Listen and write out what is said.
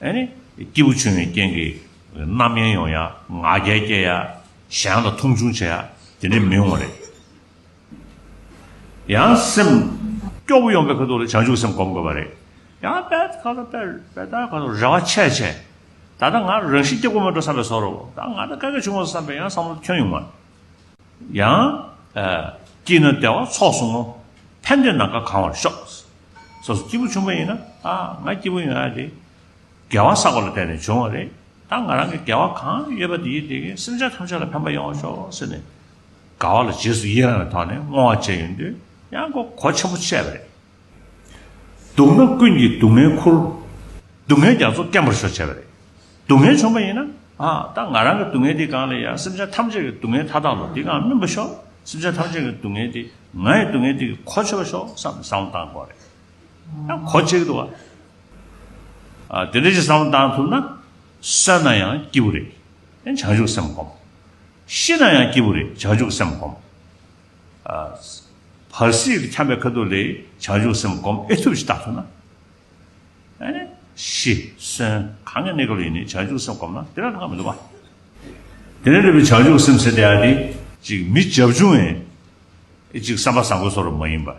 སྐྱེས་བུ་ཆུང་བའི་རྐྱེན་གྱིས་རྣམ་གཡེང་ཡོང་ཡ། ང་རྒྱལ་སྐྱེ་ཡ། གཞན་ལ་མཐོང་ཆུང་བྱེད་ཡ། དེ་འདྲས་མི་ཡོང་བ་རེད། ཡང་སེམས་སྐྱོ་བོ་ཡོང་པའི་ཁ་ཐུག་ལ་བྱང་ཆུབ་སེམས་སྒོམ་དགོས་པ་རེད། ཡང་དཔལ་ལྟར་ཁ་ཐུག་རེ་བ་ཆེ་ཆེ། ད་ལྟ་ང་རང་རང་བཞིན་སྐྱེ་བོ་མིན་འགྲོ་བསམ་པའི་བཟོ་རོ། ད་ང་ལྟར་དཀའ་ངལ་བྱུང་བ་བསམ་པའི་ཡང་བསམ་བློ་ཁྱོན་ཡོང་བ། ཡང། སྐྱིད་ན་བདེ་བ་ཚོགས་སུ་བསྔོ། ཕན་བདེ་ནམ་མཁའ་གང་བར་ཤོག། སོ་སོ་སྐྱིད་པོ་བྱུང་བ་ཡིན་ན། ད་ང་སྐྱིད་པོ་ཡོང་ཡ་རེད། དགེ་བ་བསགས་པ་ལ་བརྟེན་ནས་བྱུང་བ་རེད། ད་ང་རང་གི་དགེ་བ་གང་ཡོད་པ་དེ་ཡིས་དེ་གའི་སེམས་ཅན་ཐམས་ཅད་ལ་ཕན་པ་ཡོང་བར་ཤོག་ཟེར་ནས། དགའ་བ་ལ་རྗེས་སུ་ཡི་རང་བའི་ཐོག་ནས་བསྔོ་བ་བྱས་ཡོང་དུས་ཡང་གོ་ཆེན་པོ་བཤད་པ་རེད། སྡུག་ན་ཀུན་གྱིས་སྡུག་བསྔལ་འཁུར། སྡུག་བསྔལ་རྒྱ་མཚོ་སྐེམ་པར་ཤོག་བྱས་པ་རེད། སྡུག་བསྔལ་བྱུང་བ་ཡིན་ན། ད་ང་རང་གི་སྡུག་བསྔལ་འདི་གང་ལས་ཡང་སེམས་ཅན་ཐམས་ཅད་ཀྱི་སྡུག་བསྔལ་མཐའ་དག་ལ་འདི་གའང་སྨིན་པར་ཤོག་སེམས་ཅན་ཐམས་ཅད་ཀྱི་སྡུག་བསྔལ་འདི་ང་ཡི་སྡུག་བསྔལ་འདི་གི་གོ་ཆོད་པར་ཤོག་བསམ་ནས་བསམ་བློ་བཏང་དགོས་པ་རེད། ཡང་གོ་ཆོད་ཀྱི་འདུག་ག། དེ་འདྲ་ཞིག་བསམ་བློ་བཏང་ཐུབ་ན། གསོན་ན་ཡང་སྐྱིད་པོ་རེད། བྱང་ཆུབ་སེམས་བསྒོམ། ཤི་ན་ཡང་སྐྱིད་པོ་རེད་བྱང་ཆུབ་སེམས་བསྒོམ། བར་སྲིད་ཀྱི་འཁྱམས་པའི་ཁ་དོག་ལས། བྱང་ཆུབ་སེམས་བསྒོམ་ཨེ་ཐུབ་ཅེས་བརྟག་ཐུབ་ན། ཞི། གསོན། གང་གི་གནས་སྐབས་ཡིན་ནས་བྱང་ཆུབ་སེམས་བསྒོམ་ན་དེ་ལ་སྔར་མི་འདུག་པ། དེ་ནས་འདོད་པའི་བྱང་ཆུབ་སེམས་ཟེར་ཏེ་ཨ་ཏི། ཅིག་མི་བྱབ་ཆུང་བས། ཨེ་ཅིག་བསམ་པ་བཟང་པོའི་སོགས་རུ་མ་ཡིན་པར།